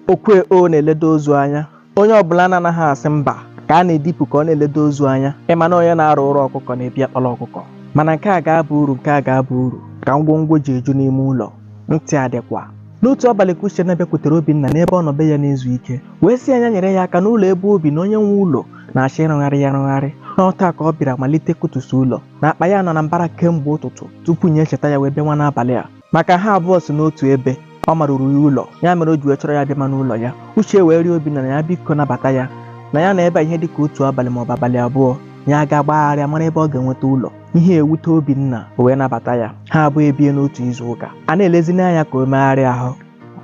Okwe o na-eledo ozu anya. Onye ọbụla na-anaghị asị mba ka a na-edipụ ka ọ na-eledo ozu anya. Ị ma na onye na-arụ ọrụ ọkụkọ na-ebi akpala ọkụkọ. Mana nke a ga-aba uru nke a ga-aba uru ka ngwongwo ji eju n'ime ụlọ. Ntị adịkwa. N'otu abalị ka Uchenna bịakwutere Obinna n'ebe ọ nọ be ya na-ezu ike wee sị ya nya nyere ya aka n'ụlọ ebe o bi na onye nwe ụlọ na-achọ ịrụgharị ya arụgharị na ọ taa ka ọ bịara malite kụtusi ụlọ na akpa ya nọ na mbara kemgbe ụtụtụ tupu nya echeta ya wee bịa nwa n'abalị a maka ha abụọ si n'otu ebe ọ maruru ya ụlọ ya mere o ji wee chọrọ ya bịama n'ụlọ ya uche wee rịọ obinna nya biko nabata ya na ya nọ ebe a ihe dịka otu abalị maọbụ abalị abụọ ya aga gbagharịa mara ebe ọ ga-enweta ụlọ ihe ewute obinna o wee nabata ya ha abụọ ebie n'otu izu ụka a na-elezina anya ka o megharịa ahụ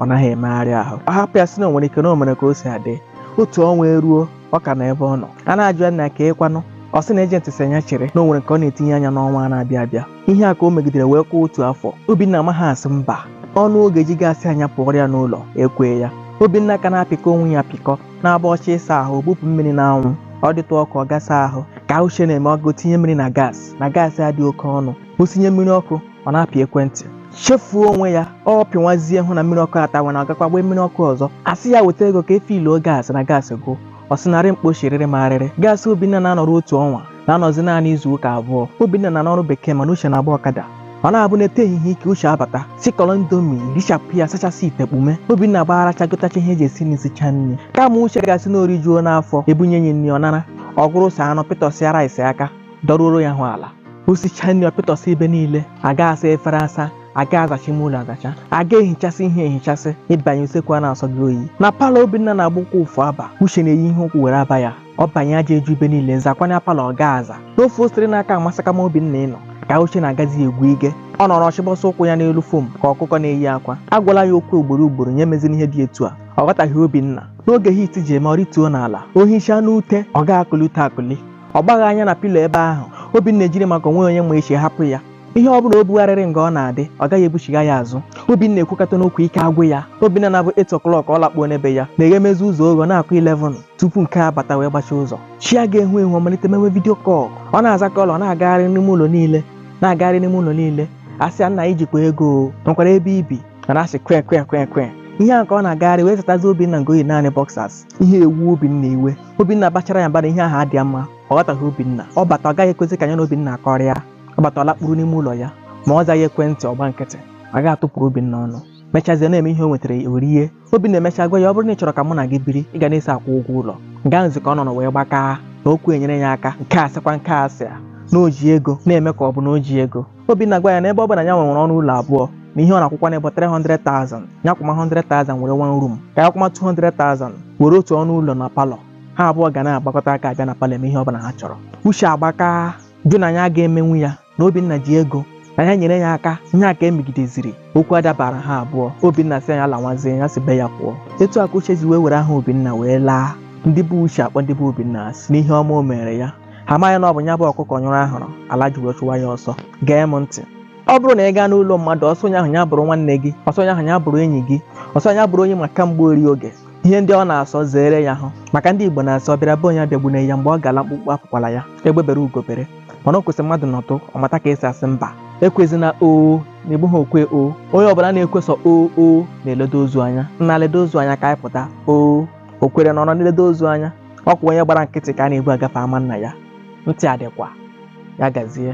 ọ naghị emegharị ahụ ọ hapụ ya sị na o nwere ike na o mere ka o si adị otu ọnwa eruo ọ ka nọ ebe ọ nọ a na-ajụ ya nna kee kwanụ ọ sị na ejenti sị ya nya chere na o nwere nke ọ na-etinye anya n'ọnwa a na-abịa abịa ihe a ka o megidere wee kụọ otu afọ obinna amaghị asị mba ọnụ ọ ga-eji ga-asị ya nya pụọrọ ya n'ụlọ ekwee ya obinna ka na-apịkọ onwe ya apịkọ na-abụ ọ chọọ ịsa ahụ bupụ mmiri n'anwụ ọ dịtụ ọkụ ọ gaa saa ahụ ka uche na-eme ọ gaa tinye mmiri na gaasị na gaasị adị oke ọnụ o sinye mmiri ọkụ ọ na-apị ekwentị chefuo onwe ya ọ pịnwazie hụ na mmiri ọkụ atawana ọ gakwaa gbee mmiri ọkụ ọzọ a sị ya weta ego ka e fiiluo gaasị na gaasị gwụ ọ sị narị mkpochirịrị ma arịrị gaasị obinna na-anọrọ otu ọnwa na-anọzi naanị izu ụka abụọ obinna nọ n'ọrụ bekee mana uche na-agba ọkada ọ na-abụ n'ete ehihie ike uche abata sikọrọ indomie richapụ ya sachasị ite kpume obinna gbagharịcha gotacha ihe e ji esi nri sicha nri kama uche ga-asị na o rijuona afọ e bunye ya nri ọ nara ọ gụrụsịa anụ pịtọsịa rice aka dọruoro ya hụ ala o sichaa nri ọ pịtọsịa ebe niile a ga-asa efere asa a ga-azacha ime ụlọ azacha a ga-ehichasị ihe ehichasị ị banye usekwu a na-asọ gị oyi na palọ obinna na-agba ụkwụ efu aba uche na-eyi ihe ụkwụ were aba ya ọ banye aja eju ebe niile zakwanụ palọ ọ ga-aza n'ofe osiri n'aka amasakama obinna ịnọ ka uche na-agazi egwu ige ọ nọrọ ọ chịbọsa ụkwụ ya n'elu fom ka ọkụkọ na-eyi akwa a gwala ya okwu ugboro ugboro nya meziri ihe dị etu a ọ ghọtaghị obinna n'oge hit ji eme ọ rituo n'ala o hichaa n'ute ọ ga-akụli ute akụli ọ gbaghị anya na pilo ebe ahụ Obinna ejiri maka onwe onye ma echi hapụ ya ihe ọ bụla o bugharịrị nga ọ na-adị ọ gaghị ebuchiga ya azụ Obinna ekwukatana okwu ike agwụ ya Obinna na-abụ 8 o'clock ọ lakpuo n'ebe ya na-eghemezi ụzọ oghe na-akụ 11 tupu nke a bata wee gbachie ụzọ chi aga-eho eho ọ malite mewe vidio kọl ọ na-aza kọl ọ na-agagharị n'ime ụlọ niile na-agagharị n'ime ụlọ niile a sị ya nna i jikwa ego o nwekwara ebe i bi a na-asị kwe kwe kwe kwe ihe a ka ọ na-agagharị wee zatazi Obinna nga o yi naanị boxers ihe ewu Obinna iwe Obinna bachara ya mba na ihe ahụ adịghị mma ọ ghọtaghị Obinna ọ bata ọ gaghị ekwezi ka ya na Obinna akọrịa ọ bata ọ lakpuru n'ime ụlọ ya ma ọ zaghị ekwentị ọ gba nkịtị a ga-atụpụrụ Obinna ọnụ mechazie na-eme ihe o nwetara o rie obinna emecha gwa ya ọ bụrụ na ị chọrọ ka mụ na gị biri ị ga na-eso akwụ ụgwọ ụlọ nga ahụzi ka ọ nọ wee gbakaa na okwu enyere ya aka nke a sịkwa nke a sị a na o ji ego na-eme ka ọ bụ na o ji ego obinna agwa ya na ebe ọ bụ na ya nwere ọnụ ụlọ abụọ na ihe ọ na-akwụkwanụ bụ 300,000 ya kwụma 100,000 were one room ka ya kwụma 200,000 were otu ọnụ ụlọ na palọ ha abụọ ga na-agbakọta aka abịa na palọ eme ihe ọ bụla ha chọrọ uche agbaka jụ na ya ga-emenwu ya na Obinna ji ego na ya nyere ya aka ihe a ka emegideziri okwu adabara ha abụọ Obinna sị ya lawazie ya si be ya pụọ etu a ka Uche ji wee were aha Obinna wee laa ndị be Uche akpọ ndị be Obinna asị n'ihe ọma o mere ya ha amaghị na ọ bụ ya bụ ọkụkọ nyụrụ ahụrụ ala ji wee chụwa ya ọsọ gee m ntị ọ bụrụ na ị gaa n'ụlọ mmadụ ọ sọ onye ahụ ya bụrụ nwanne gị ọ sọ onye ahụ ya bụrụ enyi gị ọ sọ ya bụrụ onye ị ma kamgbe ori oge ihe ndị ọ na-asọ zeere ya hụ maka ndị Igbo na-asị ọ bịara be onye abịagbune ya mgbe ọ ga-ala mkpukpu apụkwala ya egbe bere ugo bere mana o kwesị mmadụ nọtụ ọ mata ka esi asị mba ekwezina o na-egbu ha okwe o onye ọbụla na-ekwe sọ o o na-eledo ozu anya nna ledo ozu anya ka anyị pụta o o kwere na ọ nọ na-eledo ozu anya ọ kwa onye gbara nkịtị ka a na-ebu agafe ama nna ya ntị adịkwa ya gazie